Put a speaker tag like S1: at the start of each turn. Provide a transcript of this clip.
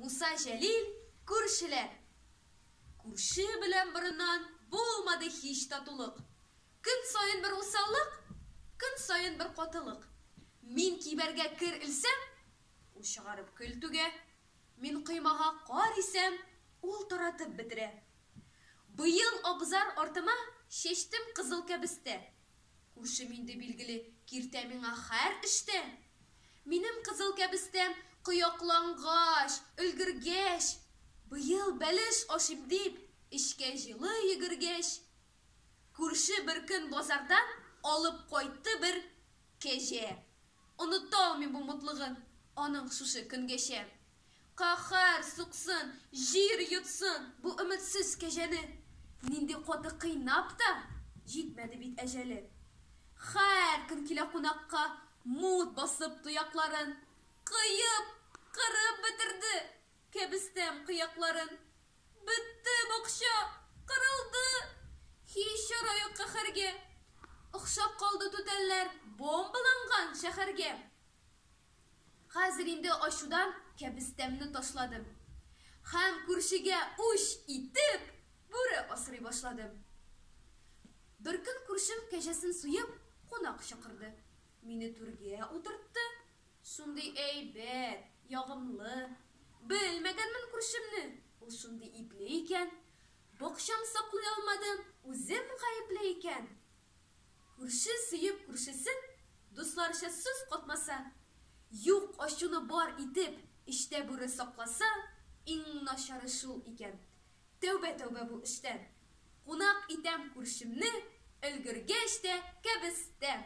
S1: Муса Җәлил күршеләр. Күрше белән борыннан булмады һич татулык. Көн саен бер усаллык, көн саен бер катылык. Мин кибәргә кер элсәм, ул чыгарып көл түгә. Мин коймага кар исәм, ул таратып бетерә. Быел абзар артыма чәчтем кызыл кәбестә. Күршем инде билгеле киртә миңа хәр эштә. Минем кызыл кәбестәм кыяклангач, өлгергәч, Быел бәлеш ашыйм дип, эчкә җылы йөгергәч, Күрше беркөн базардан алып кайтты бер кәҗә. Оныта алмыйм бу мотлыгын Аның шушы көнгәчә. Каһәр суксын, җир йотсын Бу өметсез кәҗәне. Нинди каты кыйнап та, Җитмәде бит әҗәле. Хәр көн килә кунакка, Мут басып тоякларын, Кыеп, кырып бетерде, Кәбестәм кыякларын. Бетте бакча! Кырылды! Һич чара юк каһәргә. Охшап калды түтәлләр Бомбаланган шәһәргә. Хәзер инде ачудан Кәбестәмне ташладым. Һәм күршегә үч итеп Бүре асрый башладым. Беркөн күршем кәҗәсен суеп Кунак чакырды. Мине түргә утыртты. Шундый әйбәт, ягымлы. Белмәгәнмен күршемне, ул шундый ипле икән. Бакчам саклый алмадым, үзем гаепле икән. Күрше сөеп күршесен дусларча сүз катмаса, юк ачуны бар итеп эчтә бүре сакласа, иң начары шул икән. Тәүбә тәүбә бу эштән. Кунак итәм күршемне, Өлгергәч тә кәбестән.